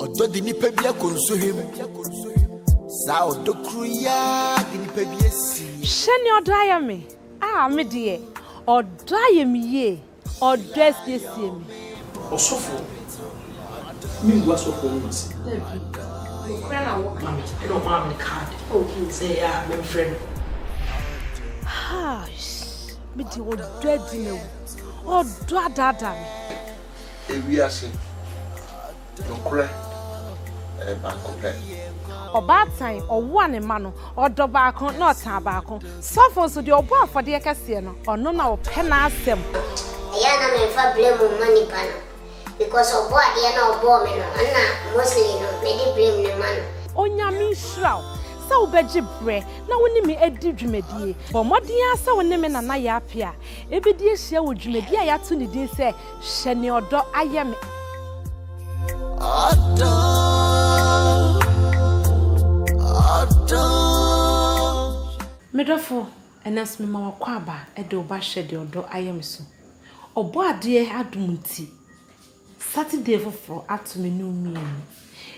Ɔdɔ de nipa bi akɔ nsohwɛ mu. Saa ɔdɔ koro yi ara de nipa bi asi. Hwɛ nea ɔdɔ ayɛ me. Ah, me deɛ, ɔdɔ ayɛ me yie. Ɔdɔ asiesie me. Ɔsɔfoɔ, mengu asɔfoɔ nom ase. Dabi, nokorɛ na wo ka. Ɛna ɔmaa me card sɛ ɛyɛ a memfrɛ no. Haash, me deɛ ɔdɔ adi me wo. Ɔdɔ adaadaa me. Ewiase nokorɛ yɛ baako pɛ. Ɔbaatan ɔwo a ne mma no, ɔdɔ baako na ɔtaa baako. Sɔfo nso, deɛ ɔbɔ afɔdeɛ kɛseɛ no, ɔno na ɔpɛ n'asɛm. Ɛyɛ a na menfa blame mma nipa no because ɔbɔ adeɛ na ɔbɔɔ me no ɛna mostly no mede blame no ma no. Onyame nhyira wo sɛ wobɛgye berɛ na wo ne me adi dwumadie. Bɔ mmɔden ara sɛ wo ne me nana yɛ apea. Yɛbɛdi ahyia wɔ dwumadi a yɛato ne din sɛ Hyɛ Nea Ɔdɔ Ayɛ Me. Ɔdɔ, ɔdɔ. Me dɔfo, ɛnnɛ nso mema wo akwaaba de wo ba Hyɛ Deɛ Ɔdɔ Ayɛ Me so. Ɔbɔadeɛ adom nti, Saturday foforɔ ato me no mmienu.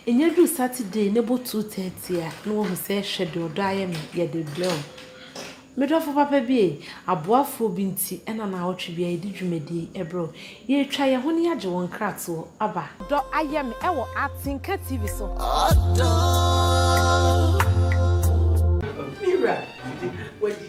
Ɛnya duru Saturday na ɛbɔ two thirty a na wahu sɛ hwɛ deɛ ɔdɔ ayɛ me, yɛde rebrɛ wo. Me dɔfo papa bi ei, aboafoɔ bi nti na naawɔtwe biara yɛde dwumadie yi brɛ wo. Yɛretwa yɛn ho na yɛagye wɔn nkratoɔ aba. Dɔ ayɛ me ɛwɔ Atenka TV so. Ɔdɔ. Me wura, wadi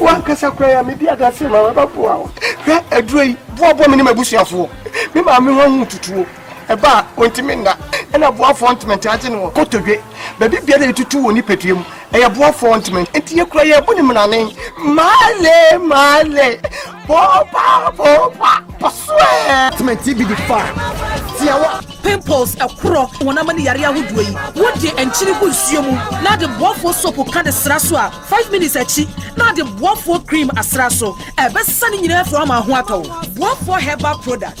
wankasa kora ya medi adase ma wɛbɛboa wo hwɛ aduro yi boaboa me ne mabusuafoɔ me maame ho ahu tutuo ɛba a ɔntumi nna ɛna boafoɔ ntumi nte agye no wɔ kotodwe baabi biara yɛtutu wɔ nipadua mu ɛyɛ boafoɔ ntumi nti yɛkura yɛ bo ne mmerane male male popa popa pɔsoɛ tmɛnti bi de fa tiawa pimples ɛkorɔ wɔn ama ne yare ahodoɔ yi wode nkyene gu nsuo mu na de boafoɔ sopo ka de sra so a 5 minutes akyi na de boafoɔ cream asra so ɛbɛsesa ne nyinaa firi ama ho atɔ boafoɔ herbal product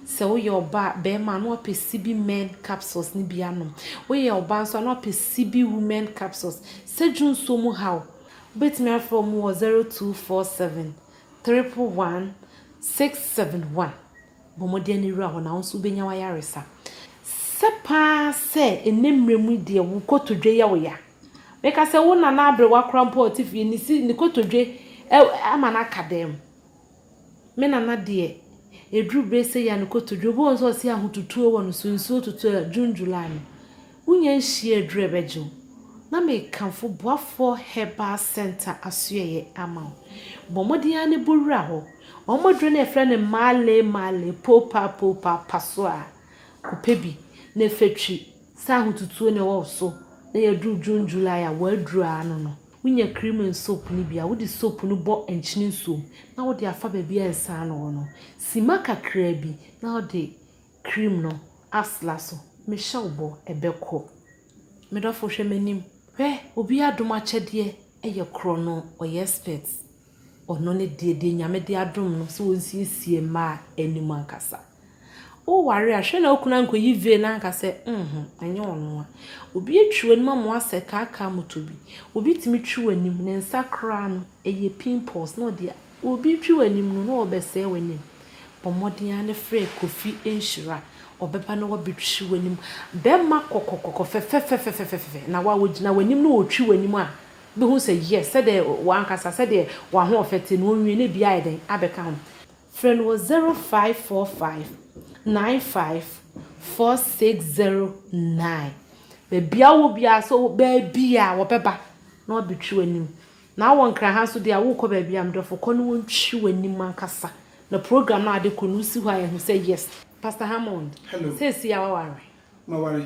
Sɛ woyɛ ɔba a, barima a, na wapɛ CB Men capsules no bi anom. Woyɛ ɔbaa nso a, na wapɛ CB Women capsules. Sadwo nsuo mu haw? Wobɛtumi afrɛ wɔn wɔ 0247 111 671. Bɔ mmɔden na wura hɔ na wo nso wobɛnya w'ayaresa. Sɛ pa ara sɛ ɛnnɛ mmerɛ mu yi deɛ wo kotodwe yɛ wo ya. Meka sɛ wo nana aberewa koraa mpo a ɔte fie, ne si, ne kotodwe ama no aka dɛm. Me nana deɛ ɛduru berɛ sɛ yia ne kotodwe obi wɔ hɔ nso ɔse ahotutuo wɔ no so nsuo tutu a June July no wonya nhyia aduru a ɛbɛgye wo na mekamfo Boafoɔ Herbal Centre asoɛeɛ ama wo bɔ mmɔden ara ne bɔ wura hɔ wɔn aduro no yɛfrɛ no Male Male Poopaa Poopaa pa so a kɔpɛ bi na fa twi sɛ ahotutuo na ɛwɔ wo so na yɛduru June July a w'aduru ara no no. Wonya cream ne soap no bi a, wode soap no bɔ nkyene nsuo mu na wode afa baabi a nsa ano wɔ no. Sima kakra bi na wode cream no asra so. Mehyɛ wo bɔ, ɛbɛkɔ. Me dɔfo hwɛ m'anim. Hwɛ, obi adom akyɛdeɛ yɛ korɔno, ɔyɛ expert. Ɔno ne deɛ deɛ Nyame de adom no sɛ ɔnsiesie mmaa anim ankasa. Wo ware a, hwɛ na wo kunu ankɔyi vein anka sɛ nhumm, ɛnyɛ ɔno a. Obi atwi w'anim ama woasɛ kaakaa moto bi. Obi tumi twi w'anim, ne nsa koraa no, ɛyɛ pimples na ɔde a. Obi retwi w'anim no, na ɔrebɛsɛe w'anim. Bɔ mmɔden ara na frɛ Kofi Nhyira, ɔbɛba na wabɛtwi w'anim. Bɛrima kɔkɔkɔkɔ, fɛfɛfɛfɛfɛfɛfɛ, na wo a wogyina w'anim na ɔretwi w'anim a, bɛhu sɛ yes, sɛdeɛ w'ankasa, sɛdeɛ w'ahoɔfɛ te no, ɔnwie na biara ayɛ dɛn abɛka ho. Frɛ no wɔ 0545 95 4609. Baabiara wowɔ biara, sɛ wowɔ baabiara a, wɔbɛba na wɔabɛtwi w'anim. Na wowɔ Nkran ha nso deɛ a, worekɔ baabiara a, me dɔfo, kɔ na wɔntwi w'anim ankasa. Na program no a wɔde rekɔ no, wosi hɔ a, yɛahu sɛ yes. Pastor Hammond, seesei a woaware? Maware.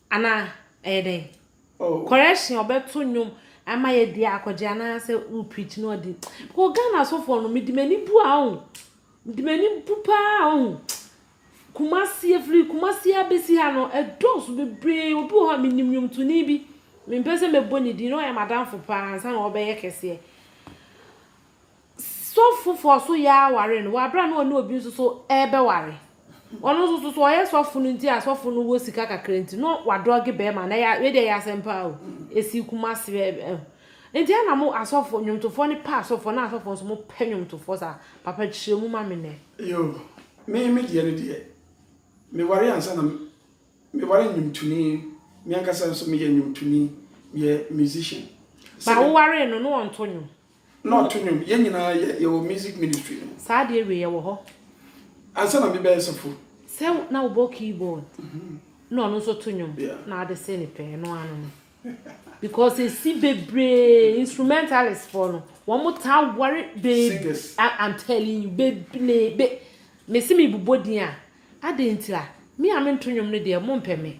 Anaa ɛyɛ dɛn? Oh. Correction ɔbɛto nnwom ama yɛ deɛ akɔgye anaa sɛ wo preach no ɔde because Ghana asɔfoɔ no mede m'ani bu a ɔho mede m'ani bu paa ɔho Kumasi efiri Kumasi abɛsi ha no ɛdɔɔso bebree obi wɔ hɔ a menim nnwomtoni bi mempɛ sɛ mɛbɔ ne din na ɔyɛ m'adamfo paa ansa na ɔbɛyɛ kɛseɛ Sɔfo foforɔ nso yɛ ara ware no wɔ aberɛ a na ɔne obi nso so rebɛware. Ɔno nso so so ɔyɛ sɔfo no nti a sɔfo no wɔ sika kakra nti na wadrɔge barima no. Ɛyɛ, wei deɛ ɛyɛ asɛm paa o. Ɛsii Kumasi ɛ ɛ. Nti ɛna mo asɔfoɔ, nnwomtofoɔ no pɛ asɔfoɔ na asɔfoɔ nso mopɛ nnwomtofoɔ saa. Papa kyerɛ mu ma me nnɛ. Yo, me me deɛ no deɛ, meware ansa na meware nnwomtoni. Me ankasa nso meyɛ nnwomtoni, meyɛ musician. Ba wowaree no na ɔnto nnwom? Na ɔto nnwom. Yɛn nyinaa yɛ yɛwɔ music ministry no mu. Saa adeɛ wei ɛwɔ hɔ. Ansa na me bɛyɛ sɔfo. Sɛ na wo bɔ keyboard. Na ɔno nso to nnwom. Yeah. Na ade se ne pɛ ɛno ara no no. Because esi bebree instrumentalist foɔ no wɔn taa ware bebree. Singers. I am telling you bebree be me se me bobɔ din a adɛn ntira me a me nto nnwom no deɛ mo mpɛ me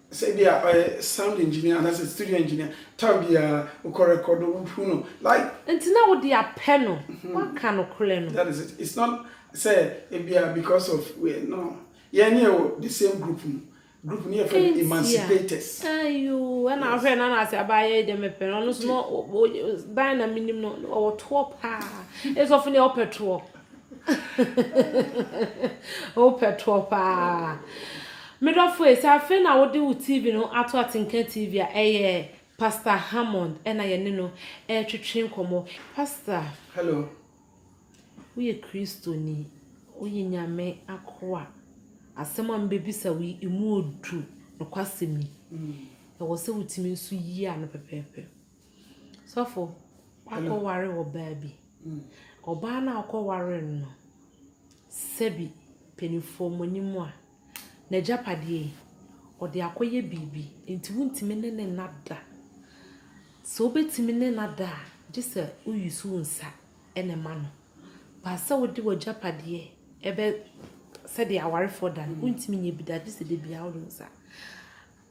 sɛ ebia ɔyɛ sound engineer anaasɛ studio engineer, time biara wokɔ record o, wohu no like. Nti na wode apɛ no, woaka nokorɛ no. That is it, it's not sɛ ebia because of wei, no, yɛn ne yɛwɔ the same group mu, group no yɛfrɛ no Emancipators. Ayoo, ɛna wohwɛ Nana ase abaa yɛi deɛ mepɛ no, ɔno nso no, Diana menim no, ɔwɔ toɔ paa, ɛsɛ sɛ ɔfo ne yɛ ɔpɛ toɔ. Wopɛ toɔ paa. Me dɔfo ei, sɛ afei na wode wo TV no ato Atenka TV a, ɛyɛ Pastor Hammond na yɛne no retwetwe nkɔmmɔ. Pastor. Hello. Woyɛ Kristoni, woyɛ Nyame akoa. Asɛm a mebɛbisa wo yi, ɛmu ɔduru, nokwasɛm ni. Ɛwɔ sɛ wotumi nso yi ano pɛpɛɛpɛ. Sɔfo, wakɔware ɔbaa bi. Ɔbaa no a ɔkɔwaree no no, sɛbi mpanimfoɔ mo anim a, n'agyapadeɛ yi, ɔde akɔyɛ biribi, enti wontumi ne no nna da. Sɛ wobɛtumi ne no ada a, gye sɛ wo use wo nsa na ɛma no. But sɛ wode w'agyapadeɛ ɛbɛ sɛdeɛ awarefoɔ da no, wontumi nyɛ bi da, gye sɛ dabiara wode wo nsa.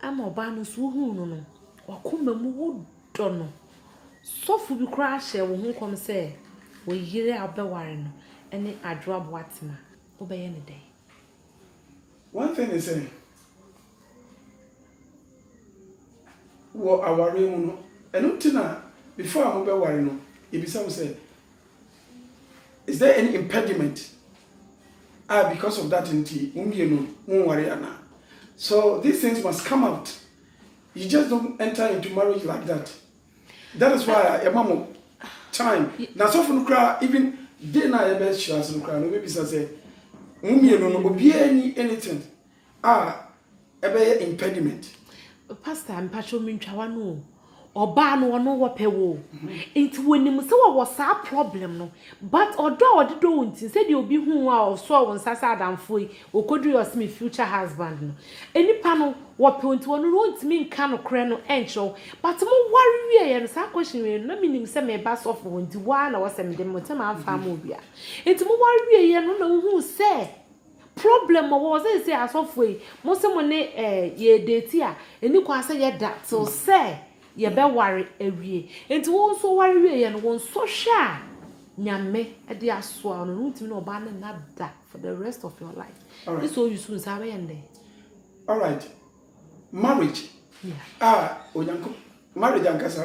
Ama ɔbaa no nso wohuu no no, w'akoma mu wodɔ no. Sɔfo bi koraa hyɛɛ wo ho nkɔm sɛ wo yere a wobɛware no ne Adwoa Boatem a, wobɛyɛ no dɛn? One thing ne sɛ, wɔ awareɛ mu no, ɛno nti na before a mobɛware no, yɛbisa wo sɛ. is there any impediment ah because of that nti mo mmienu mo nware ana so these things must come out you just don't enter into marriage like that that is why ẹ ma mo time na sọfọ no kura even day na ẹ bẹ ṣe ase no kura no bẹ bisa sẹ mo mmienu no obiara ni anything a ɛbɛyɛ impediment. Pastor mpacho mentwa wano o ɔbaa no ɔno wɔpɛ wo nti wɔnim sɛ wɔwɔ saa problem no but ɔdɔ a ɔde dɔ wo nti sɛ deɛ obi hu a ɔsɔ wo nsa sɛ adamfo yi ɔkɔduru yɛ ɔsɛ me future husband no nipa no wɔpɛ nti ɔno no ɔntumi nka nokorɛ no ɛnkyerɛ wo but mo ware wieɛ no saa question wei no na menim sɛ meba sɔfo hɔ nti waa na wɔsɛ mede mo ntɛm amfa ama obi a nti mo ware wieɛ no na wohu sɛ Problem wɔ hɔ seesei asɔfoɔ yi mo se mo ne eh yɛ date a ɛni kwan sɛ yɛ da till sɛ yɛ bɛ ware awie nti wo nso ware wie yɛ no wo nsɔ hwɛ a Nyame de asoa wo no wo ntumi ne ɔbaa no nna da for the rest of your life gye sɛ oyi so nsa wobɛ yɛ no dɛn. Alright marriage a Onyankopɔn marriage ankasa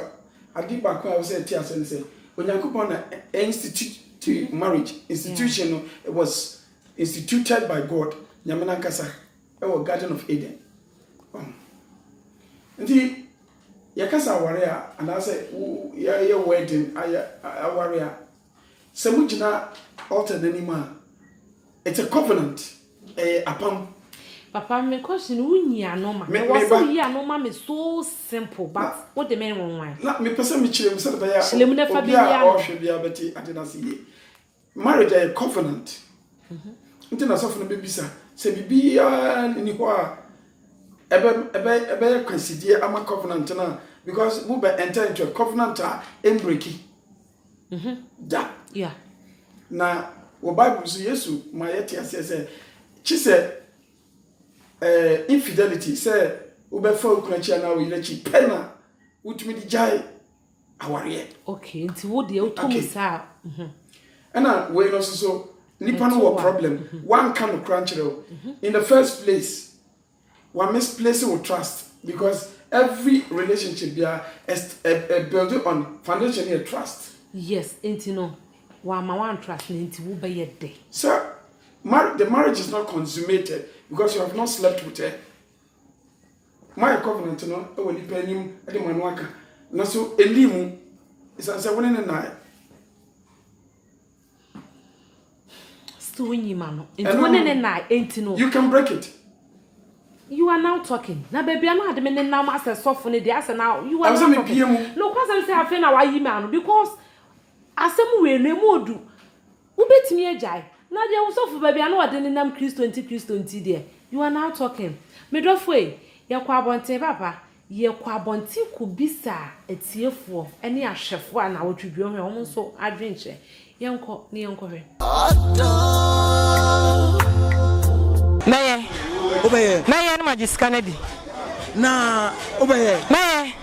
ade baako a ɛwɔ sɛ yɛte aseɛ ne sɛ Onyankopɔn na ɛ institute marriage institution no it was Instituted by God, Nyame n'ankasa, wɔ Garden of Eden. Wahu? Nti, yɛkasa aware a, anaasɛ yɛayɛ wedding, ayɛ aware a, sɛ mo gyina altar n'anim a, it's a covenant, ɛyɛ apam. Papa me question no wo nyi ano ma me wɔ sɛ wo yi ano ma me so simple but wo de me nwanwan. Na me pɛ sɛ me kyerɛ mu sɛde bɛyɛ a obi a ɔhwɛ biara bɛte ade no ase yie. Marriage yɛ covenant, nti na sɔfo no bɛbisa sɛ biribiara nni hɔ a ɛbɛyɛ kwasidie ama covenant no a because mo bɛ ɛntɛ ntwɛ covenant a ɛmbreki mhm. da na wɔ bible so yesu ma yɛte aseɛ sɛ kye sɛ eh, infidelity sɛ wobɛfa wo kunu akyi anaa wo yere akyi pɛ na wotumi de gyae awareɛ. Okay, nti wo deɛ wotɔ mu saa a. Mhm. Ɛna wei no nso so, nipa no wɔ problem, mhm. wanka no kora nkyerɛ o. Mhm. In the first place, wa misplace wo trust because every relationship bia is a, a building on foundation here trust. Yes, nti no, wa ma wan trust no nti wo bɛyɛ dɛ. Sir, mar the marriage is not consummated because you have not slept with her. Moayɛ covenant no wɔ nnipa anim de mo ano aka, nanso ɛnnii mu, ɛsiane sɛ wo ne no nnaeɛ. Still nyi ma no. Nti wo ne ne na enti no. You can break it. You are now talking. Na baby a na ade me ne nam asɛ sɔfo ne deɛ asɛ na you are now talking. Ɛwɔ sɛ mebie mu. No kwasɛm sɛ afei na wayi me ano because asɛm wei no emu odu. Wobɛtumi agyae. Na deɛ wo sɔfo baabi a na ɔde nenam Kristo nti Kristo nti deɛ, you are now talking. Me dɔfo ei, yɛkɔ abɔnten papa, yɛkɔ abɔnten kɔbisa atiefoɔ ne ahwɛfoɔ a nnawɔtwedwuo hwɛ, wɔn nso adwene kyerɛ. Yɛnkɔ na yɛnkɔhwɛ. Mɛyɛ. Wobɛyɛ. Mɛyɛ na magye sika no adi. Na wobɛyɛ. Mɛyɛ.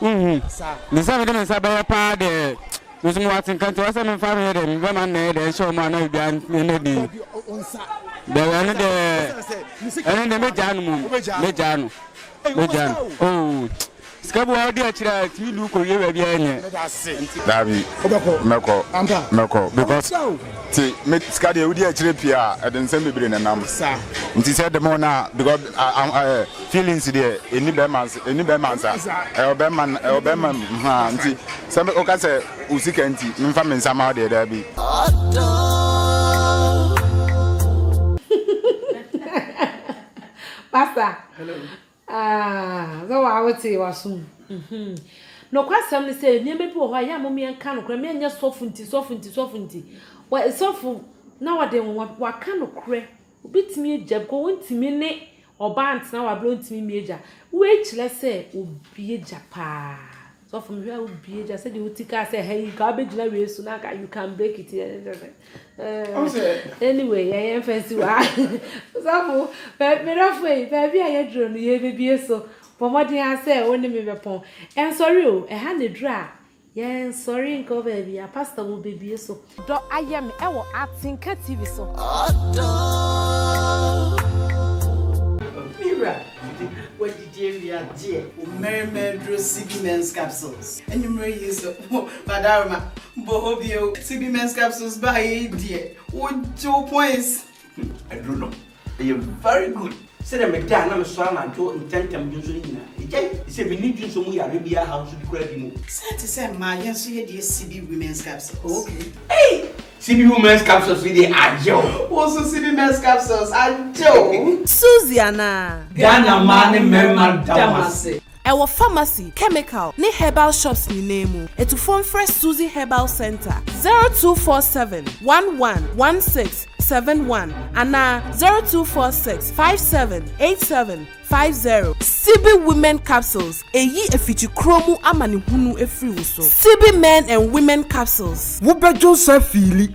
Wohu? Ntsi sɛ mede me nsa bɛyɛ paa dɛ me so mowɔ atsenkã ntsi ɔwɔ sɛ memfa meyɛ dɛ mebɛma nna yɛ dɛ nhyɛ hom anaa obiara nna bi. Dɛw, ɛno dɛ, ɛno dɛ megyaa no mbom, megyaa no, megyaa no. Oh, sika bi wɔ hɔ a ɔdze akyir a etumi de wo kowie beebiara nyɛ? Dabi, mɛkɔ, mɛkɔ, because tse, me sika deɛ wodi akyire pii a, ɛde nsɛm bebree na ɛnam, nti sɛ dɛm a ɔno a, because ah ah eh. Feelings deɛ ɛni bɛrima nsa ɛni bɛrima nsa ɛwɔ bɛrima ɛwɔ bɛrima mu haa nti sɛ woka sɛ wo sika nti memfa me nsa ma wo deɛ daa bi. Pasta sɛ waa wote wasom. Nokwasɛm ne sɛ nneɛma bi wɔ hɔ a yɛ a mom yɛnka nokorɛ ma ɛnyɛ sɔfo nti sɔfo nti sɔfo nti sɔfo na wɔde wɔaka nokorɛ Obi tumi agya because ontumi ne ɔbaa ntena wabere ontumi mmie agya wei kyerɛ sɛ obie agya paa sɔfo mehwɛ a obie agya sɛ deɛ oti kaa sɛ ha yi nka wabɛgyina wei so na nka you can break it anyway yɛyɛ mfa nsi wa sɔfo merɛfo yi baabi a yɛduro no yɛbɛbie so bɔ mmɔden a sɛ wo ne me bɛpɔn ɛnsɔre o ɛha na ɛduru a Yɛn sɔre nkɔ baabi a. Pastor wo bɛ bue so. Dɔ ayɛ me ɛwɔ atenka TV so. Ɔdɔ oh. Mewura wadidi awie adeɛ. Mmarima aduro CB Men's Capsules. Anwummerɛ yi nso Madaroma bɔ hɔ bio. CB Men's Capsules baayɛ yi deɛ wogye wo points. Aduro no Ɛyɛ very good sɛdeɛ me da a na me sɔre anadwo ntɛmntɛm dwonsɔ no nyinaa ɛgyae ɛfisɛ menni dwonsɔ mu yareɛ biara haw nso bi koraa bi mu. Saa te sɛ mmaa yɛn nso yɛ deɛ Sibi women's capsules. Oh okay. Ei! Sibi women's capsules yi deɛ agye o. Wo nso Sibi men's capsules agye o. Suzy anaa? Ghana mmaa ne mmarima da mo ase. Ɛwɔ pharmacy, chemical, ne herbal shops nyinaa mu. Atufoɔ mfrɛ Suzy Herbal Centre, zero two four seven, one one, one six, seven one anaa zero two four six, five seven, eight seven, five zero. Sibi Women Capsules, Ɛyi afikyikuro mu amanehunu firi wo so. Sibi Men and Women Capsules. Wobɛdwo nsa fiili.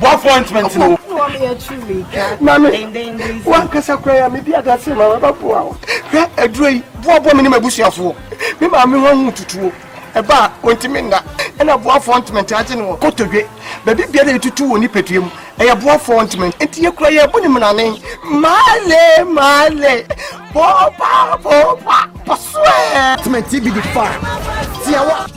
Bɔ appointment no. Mami, wankasa kura ya mi di adase ma waba bu awo. Hwɛ aduro yi, boaboa mi ne m'abusuafoɔ. Me maame ho ahu tutuo. Ɛba a, ɔntumi nna. Ɛna boa appointment agye no wɔ kotodwe. Baabi biara yɛtutu wɔ nipadua mu. Ɛyɛ boa appointment. Nti yɛ kura yɛ bu ne mmerane. Maale, maale, bopa, bopa, pɔsoɛ. Appointment bi di fa. Tiawa.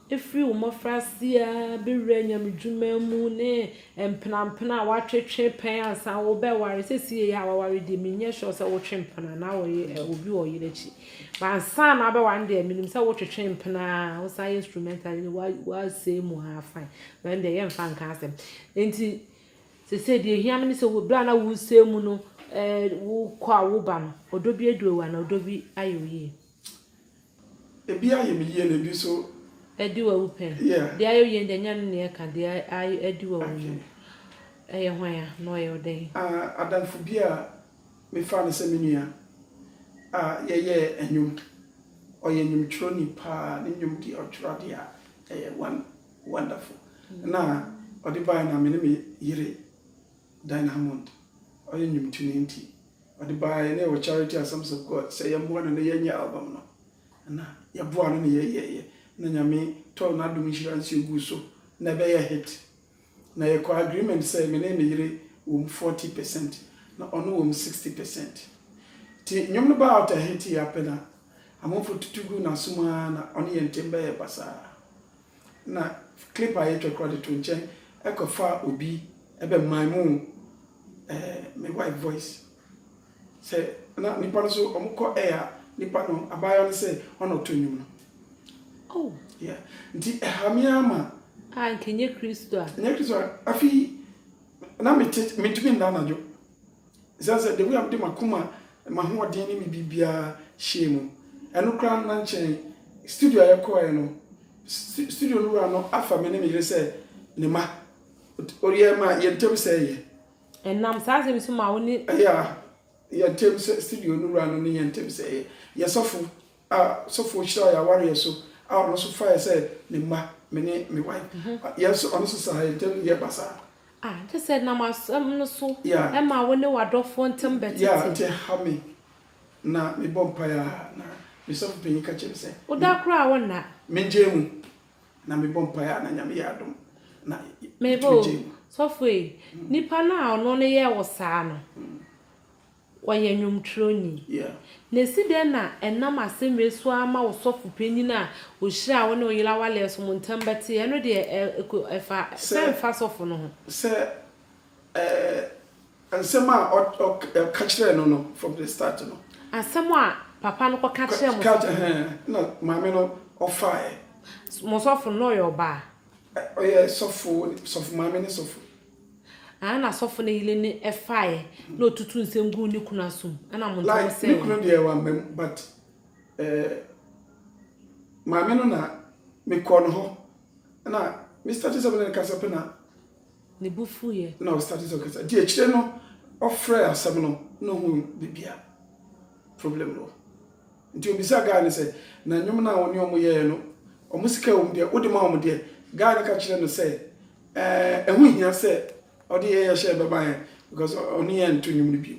Ɛfiri wo mmɔfraase ara bɛwura nyamedwuma mu ne mpenampena a woatwetwe pɛn ansa wobɛware. Seesei yi a waware deɛ, menyɛ sure sɛ wotwe mpena anaa wɔyɛ obi wɔ ɔyere akyi. But ansa na wobɛware no deɛ, menim sɛ wotwetwe mpena ara, wosan yɛ instrumental no, woasɛe mu ara fine. But ɛndeɛ yɛmfa nka asɛm. Enti seesei deɛ ɛhia me ne sɛ berɛ a na woresɛe mu no, wokɔ a woba no, ɔdɔ bi adu wo anaa ɔdɔ bi ayɛ wo yie? Ebi ayɛ me yie na ebi nso. Adi w'awu pɛn. Yeah. Deɛ ayɛ wo yie no deɛ nyɛ ɛno na yɛka, deɛ ayɛ adi w'awu no, Okay. ɛyɛ hwan a, na ɔyɛ wo dɛn? Ah, adamfo bi a mefaa no sɛ me nua a yɛyɛɛ nnwom. Ɔyɛ nnwomtwerɛni paa, ne nnwom deɛ ɔtwerɛ adeɛ a ɛyɛ won, wonderful. Na ɔde baeɛ no a me ne me yere Dynamond, ɔyɛ nnwomtoni nti Ɔde baeɛ na yɛwɔ charity asɛm sɛ kɔ sɛ yɛmmoa no na yɛnyɛ album no na yɛboaa no na yɛyɛeɛ na Nyame tɔɔ n'adom nhyira nsuo guu so na ɛbɛyɛɛ hit na yɛkɔɔ agreement sɛ me ne me yere wɔm forty percent na ɔno wɔm sixty percent nti nnwom no baa out a hit yɛ apɛ na amanfoɔ tutu guu n'asom aa na ɔne yɛn ntem bɛyɛɛ basaa. na clip a yɛtwa koraa de to nkyɛn ɛkɔfaa obi ɛbɛ mime ɛɛ eh, me wife voice sɛ na nipa no so wɔn kɔ ɛyɛ a nipa no abaayewa no sɛ ɔna ɔto nnwom no oh yeah nti ɛha mi ama a nkenyɛ kristo a nyɛ kristo a afi na mi te mi ntumi nna anadwo. Esiane sɛ the way a mede m'akoma, m'ahoɔden ne me biribiara hyɛɛ mu, ɛno koraa no na nkyɛn studio a yɛkɔeɛ no, studio no wura no afa me ne me yere sɛ ne ma. Ɔyɛɛ ma yɛn ntam sɛeɛ. Ɛnam saa asɛm yi so ma wo ne. Yeah, yɛn ntam sɛ studio no wura no ne yɛn ntam sɛeɛ. Yɛn sɔfo a sɔfoɔ hyiraa yɛn awareɛ so a ɔno nso faeɛ sɛ ne mma, me ne me wife. Yɛn nso, ɔno nso saa, yɛn ntam deɛ ɛba saa. Ah, kyerɛ sɛ ɛnam asɛm no so Yeah. ɛma wo ne w'adɔfoɔ ntam Yeah, bɛtete. nti ɛha me na mebɔ mpaeɛ a na me sɔfo panin ka kyerɛ me sɛ Wo da koraa a wo nna. mengyae mu. Na mebɔ mpaeɛ a na Nyame yɛ adom na Meba metumi o, gyae mu. sɔfo ei, nipa no a ɔno no yɛɛ wo saa no, Ɔyɛ nnwomtwerɛni. Na ɛsi dɛn na ɛnam asɛm wei so ara ma wo sɔfo panyin a ɔhyiraa wo ne wo yere awaleɛ so mo ntam bɛte? Ɛno deɛ ɛ, ɛkɔ, ɛfa sɛ mfa sɔfo no ho. Sɛ, ɛɛ, nsɛm a ɔ, ɔ, ɔka kyerɛɛ no no from the start no. Asɛm a papa no kɔka Ka, kyerɛɛ mo ka, sɔfo no. ɛhɛn, ɛna maame no ɔfaeɛ. Mo sɔfo no, na ɔyɛ ɔbaa? Ɛ, ɔyɛ sɔfo, sɔfo maame ne sɔfo. Aane na sɔfo no yele no faeɛ na ɔtutuu nsem guu ne kunu aso mu ɛna mo ntam sɛɛ wɔn. Like me kunu deɛ wamma mu but eh maame no na me kɔɔ no hɔ ɛna me starte sɛ me ne no kasa pɛ na ne bo fuiɛ ɛna ɔ starte sɛ ɔkasa nti akyire no ɔfrɛɛ asɛm no na ɔhuu baabi a problem no wɔ nti ɔbisaa guy no sɛ na nnwom no a wo ne wɔn yɛeɛ no wɔn sika wɔ mu deɛ wode ma wɔn deɛ guy no ka kyerɛɛ no sɛ Ɛho nhia sɛ ɔde yɛn yɛ hyɛ bɛba yɛn because ɔne yɛn nto nnwom no bio.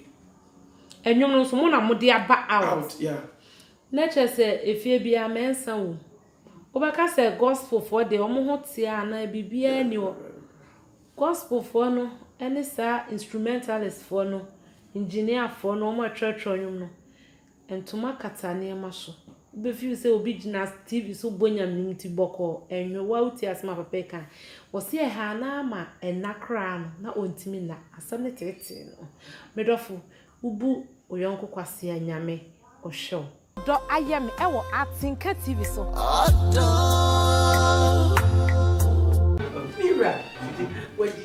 Nnwom no nso mo na mo de aba out. Out yeah. Na kyerɛ sɛ efie biara mɛnsa wom. Wobɛka sɛ gospel foɔ deɛ wɔn ho teɛ anaa biribiara nni hɔ. Gospel foɔ no ne saa instrumentalist foɔ no, engineer foɔ no wɔn a ɛtwerɛtwerɛ nnwom no. Ntoma kata nneɛma so. Wobɛ feel sɛ obi gyina TV so bɔ nyame nom ti bɔkɔɔ. Ɛnhwɛ wo a wo tie asɛm a papa yi ka. Ɔse ɛhaa no ara ma ɛna koraa no na ɔntumi nna. Asɛm no teetee no. Me dɔfo, wo bu wo yɔnko kwasea a nyame ɔhwɛ wo. Dɔ ayɛ me ɛwɔ atenka TV so. Ɔdɔ. Mira, wadi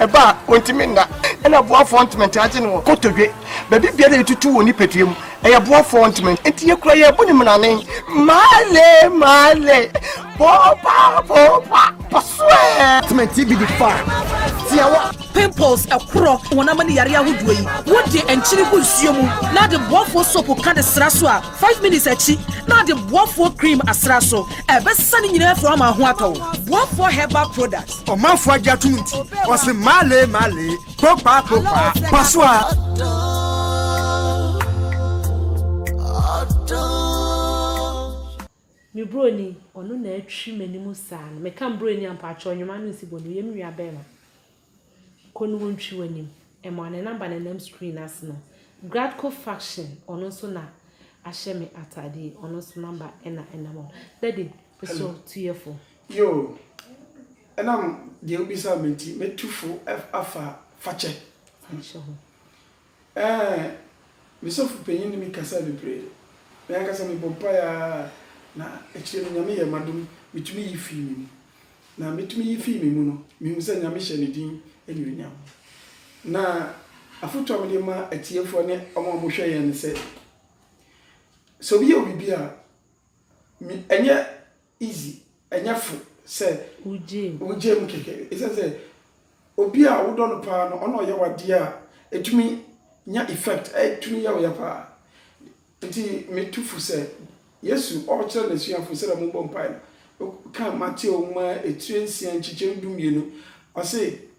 ɛba a ɔntumi nna ɛna boafoɔ ntoma nti agye no wɔ kotodwe baabi biara yɛtutu wɔ nipadua mu ɛyɛ boafoɔ ntoma nti yɛkura yɛ bo ne mmerane male male boba boba pasoɛ ntoma nti bi di fa tiawa pimples ɛkorɔ wɔn ama ne yare ahodoɔ yi wode nkyene gu nsuo mu na de boafoɔ sopo ka de sra so a five minutes akyi na de boafoɔ cream asra so ɛbɛsesa ne nyinaa firi ama ho atɔ boafoɔ herbal product Ɔmanfoɔ agye atom nti, ɔse maalee maalee, poopaa poopaa, pa so a. Me broni ɔno na atwi m'anim saa no meka broni a mpakyɛw nnwom ano nsi bɔ no yɛ me nua bɛrima kɔ no wontwi w'anim ɛma ne namba na ɛnam screen ase no Gradco faction ɔno nso na ahyɛ me atade ɔno nso namba ɛna ɛnam ɔno dadi so tuyɛfo Yoo, ɛnam deɛ wobisa me nti, mɛtu fo afa fakyɛ ho. Ɛɛ, me sɔfo panyin ne me kasae bebree. Me ankasa mebɔ mpae ara, na akyire no Nyame yɛɛ m'adom metumi yi fii me mu. Na metumi yi fii me mu no, mehuu sɛ Nyame hyɛ ne din anuonyam. Na afotu a mede ma atiefoɔ ne wɔn a wɔhwɛ yɛn ne sɛ, sɛ obi yɛ wo biribi a, ɛnyɛ easy ɛnyɛ fo sɛ wogye mu kɛkɛ ɛsiane sɛ obi a wodɔ no paa no ɔna ɔyɛ wadeɛ a ɛtumi nya effect ɛtumi yɛ woyɛ paa nti metu fo sɛ Yesu ɔkyerɛ n'asuafo sɛdeɛ mobɔ mpae no ka Mateo nwoma etire nsia nkyekyɛm du mmienu ɔse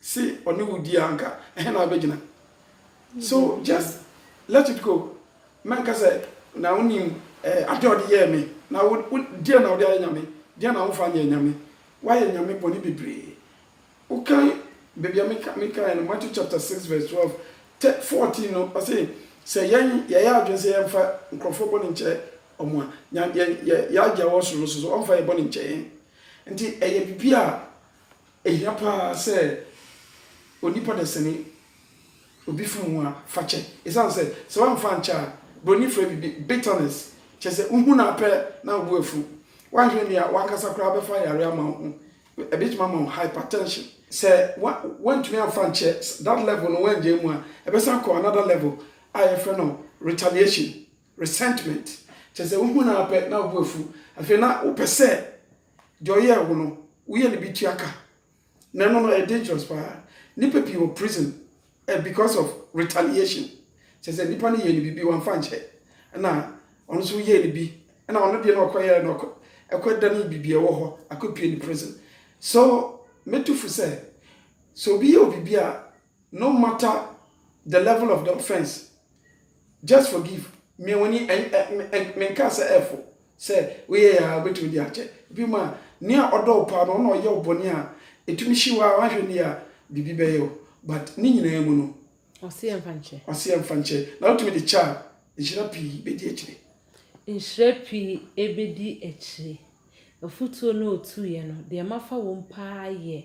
Se ɔne wo di a anka ɛhe na wobɛgyina? So just let it go, mɛnka sɛ na wonim adeɛ a ɔde yɛɛ me, na wo wo deɛn na wode ayɛ Nyame? Deɛn na womfa nyɛɛ Nyame? Woayɛ Nyame bɔne bebree. Wokan baabi a meka mekaeɛ no, Matthew chapter six verse twelve, tɛ fourteen no, ɔse sɛ yɛn yɛyɛ adwene sɛ yɛmfa nkorɔfoɔ bɔne nkyɛ wɔn a, Nya yɛn yɛ yɛn Agya a ɔwɔ Soro no nso so, ɔmfa yɛn bɔne nkyɛ yɛn. Nti ɛyɛ biribi a Ehia paa sɛ onipa dasani, obi fom ho a, fa kyɛ. Esiane sɛ, sɛ woamfa ankyɛ a, Buroni frɛ biribi bitterness, kyerɛ sɛ, wuhu no ara pɛ na wo bo afuw. Woanhwɛ anwie a, w'ankasa koraa bɛfa yare ama wo ho. Ebetumi ama wo hypertension. Sɛ woantumi amfa ankyɛ that level no, woannyae mu a, ɛbɛsan akɔ another level a yɛfrɛ no retaliation, resentment, kyerɛ sɛ, wuhu no ara pɛ na wo bo afuw. Afei na wopɛ sɛ deɛ ɔyɛɛ wo no woyɛ ne bi tua ka na ɛno no ɛyɛ dangerous paa nipa pii wɔ prison eh, because of retaliation kyɛ sɛ nipa no yɛ ne biribi wamfa nkyɛ ɛna ɔno nso yɛ ne bi ɛna ɔno deɛ na ɔkɔyɛ na ɔkɔ ɛkɔ da ne biribi ɛwɔ hɔ akɔpie ne prison so mɛtu fo sɛ sɛ obi yɛ obi bi a no matter the level of the offence just forgive mia wani menkaa sɛ ɛfo sɛ woyɛ yɛ a wobɛtumi de akyɛ bi ma nea ɔdɔ wo paa no ɔna ɔyɛ wo bɔne a ɛtumi hye wo a wahwɛ ne a biribi bɛyɛ wo but ne nyinaa mu no ɔseɛ mfa nkyɛ ɔseɛ mfa nkyɛ na wotumi de kyɛ a nhyira pii bɛdi akyire nhyira pii ɛbɛdi akyire afutuo no ɔtuiɛ no deɛ mafa wom paa yɛ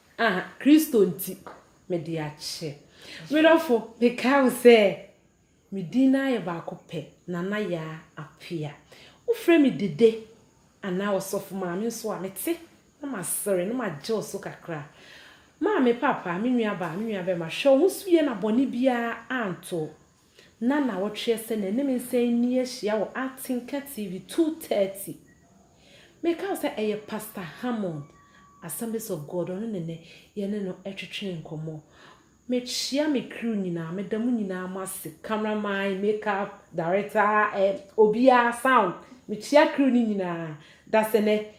A, Kristo nti, mede akyɛ. Me dɔfo, mekae wo sɛ me din no ara yɛ baako pɛ, Nana Yaa Apea. Wofrɛ me Dede anaa Ɔsɔfo Maame nso a, mete na masere na magye wo so kakra. Maame, Papa, me nuabaa, me nuabɛma, hwɛ wo ho so yie na bɔne biara anto wo. na nawɔtweɛ sɛ nanim nsan nni ahyia wɔ Artinka TV 2:30. Meka wo sɛ ɛyɛ Pastor Hammond, Assemblies of God, ɔno ne nɛ yɛne no ɛtwetwee nkɔmmɔ. Mekyea me crew nyinaa, meda mo nyinaa mo ase, camera man, make up, director, eh, obiara, sound, mekyea crew no nyinaa, dasɛ nɛ